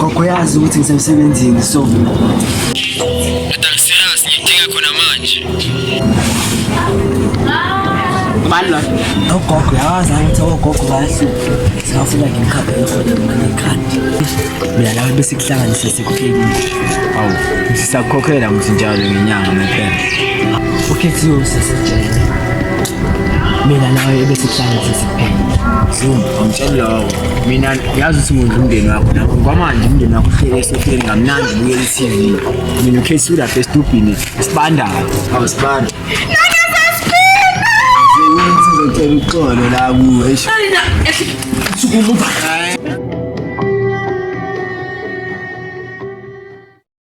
Gogo yazi ukuthi ngisemsebenzini so. Atamsiras ngidinga khona manje. Mani lo. Ogogo yazi ukuthi ogogo bayahlupha. Singafuna ngimkhaphe ekhona manje ikhadi. Mina nawe bese kuhlanganise sekupheli. Awu, sisakukhokhela mthi njalo ngenyanga mepela. Ukhethiwe usesejele. Mina nawe bese kuhlanganise sekupheli. Zoom, angitshela lawo. Mina yazi ukuthi ngondla umndeni wakho nakho kwamanje umndeni wakho uhlele esohleni kamnandi bukela i-tv mina ukhesi ulapha esitubhini sibandayo awusibanda sizocela uxolo la kuwe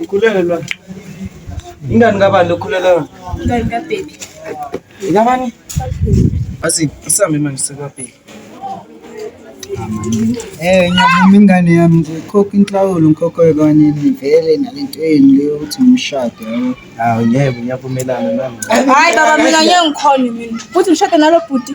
Ukhulelwa. Ingane kabani lokhulelwa? Ingane kaBaby. Ingabani? Asi isami manje sekaBaby. Eh ngiyavuma ingane yami nje khokha inhlawulo ngikhokhe kanye nivele nalento yenu leyo ukuthi ngimshade yabo. Hawu ngeke ngiyavumelana nami. Hayi baba mina ngeke ngikhone mina. Futhi ngishade nalo bhuti.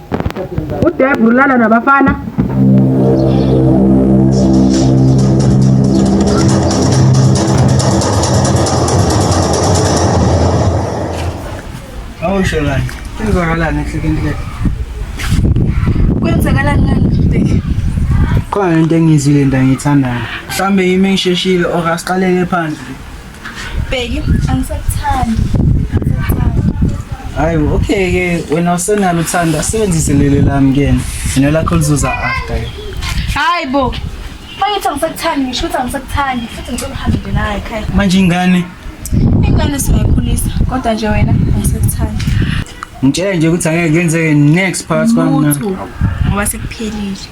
udebru ulala nabafana awusho kani kwenzakalani ehlekeni le kwenzakalani lana bheki khona into engiyizwile into angiyithandayo mhlawumbe yimi engisheshile or asiqaleke phandle Bheki, angisakuthandi. Hayi, okay ke wena usenalo uthanda sebenzise leli lami kena. Mina lakho lizuza after. Hayi bo. Mangithi angisakuthandi ngisho ukuthi angisakuthandi futhi ngicela uhambe naye ekhaya. Manje ingane ingane singayikhulisa kodwa nje wena angisakuthandi. Ngitshela nje ukuthi angeke kwenzeke next part kwami. Ngoba sekuphelile.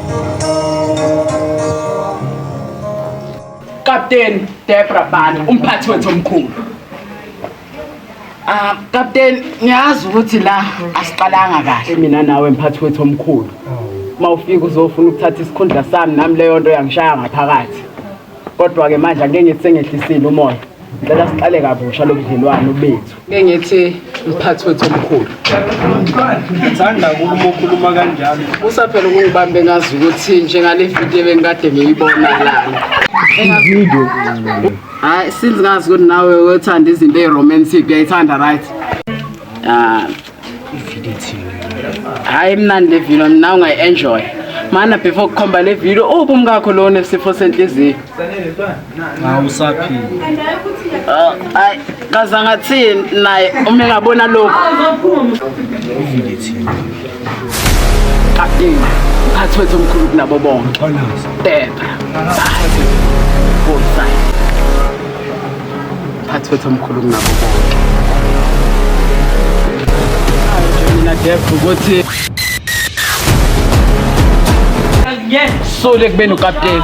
Captain Debra Bani umphathi wethu omkhulu. Ah Captain ngiyazi ukuthi la asiqalanga kahle mina nawe mphathi wethu omkhulu. Mawufika uzofuna ukuthatha isikhundla sami nami leyo nto yangishaya ngaphakathi. Kodwa ke manje angeke ngithi sengehlisile umoya. Ngicela siqale kabusha lobudlelwano bethu. Ngeke ngithi mphathi wethu omkhulu. Ngithanda ukukhuluma ukhuluma kanjalo. Usaphela ukungibambe ngazi ukuthi njengale video bengikade ngiyibona lana. Ivideo. Hayi since ngazi ukuthi nawe wethanda izinto eziromantic uyayithanda right? Ah ivideo ithini hayi mnandi le video mina ungayi-enjoy mana before kukhomba le video uphi umkakho lowo nesifo senhliziyo awusaphili ah, hayi kaze angathini naye uma engabona lokhu ivideo ithini kapteni mphathi wethu omkhulu kunabo bonke tepha Phathi wethu omkhulu kunabo bonke. Mina Def ukuthi sule kubeni ukapteni.